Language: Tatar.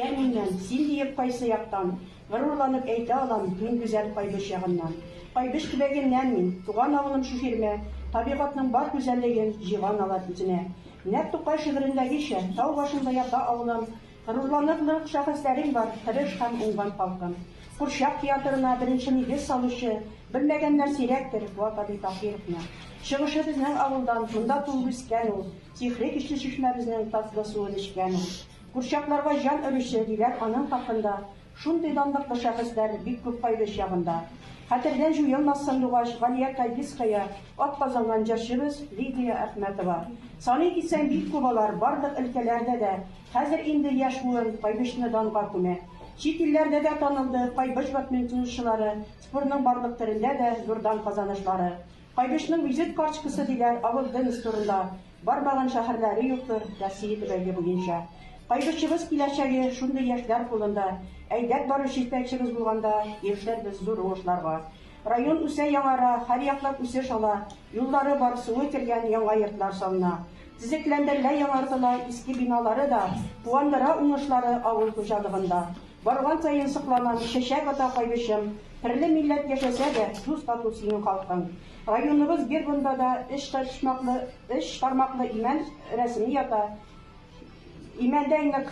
Ә миннән, син диеп кайсы яктан, Горурланып әйтә алам мин гүзәл Кайбыч ягыннан. Кайбыч төбәгеннән мин, туган авылым Шифирмә, табигатьнең бар гүзәллеген Җыйган алар үзенә. Нәкъ Тукай шигырендәгечә, тау башында ята авылым, Горурланырлык шәхесләрең бар, тырыш һәм уңган халкым. Курчак театрына беренче нигез салучы, белмәгәннәр сирәктер Вак абый Таһировны. Чыгышы безнең авылдан, монда туып үскән ул, Сихри көчле чишмәбезнең татлы суын эчкән ул. Курчакларга җан өрүче, диләр аның хакында, Шундый данлыклы шәхесләр бик күп Кайбыч ягында. Хәтердән җуелмас сандугач Галия Кайбицкая, атказанган җырчыбыз Лидия Әхмәтова. Саный китсәң, бик күп алар, барлык өлкәләрдә дә. Хәзер инде яшь буын Кайбычны данга күмә. Чит илләрдә дә танылды Кайбыч бадминтончылары, спортның барлык төрендә дә зур дан-казанышлары. Кайбышның визит карчкысы диләр, авыл Денис турында бармаган шәһәрләре юктыр Россия төбәге буенча. Кайбышыбыз киләчәге шундый яшьләр кулында. Әйдәп баручы җитәкчебез булганда ирешербез зур уңышларга. Район үсә, яңара, һәрьяклап үсеш ала, юллары бар, суы кергән, яңа йортлар салына. Төзекләндерелә, яңартыла, иске биналары да куандыра уңышлары авыл хуҗалыгында. Барган саен сокланам, чәчәк ата кайбычым, Трле милләт яшәсә дә, дус тату синең халкың. Районыбыз гербында да өч почмаклы, өч тармаклы имән рәсеме ята, имәндәй нык.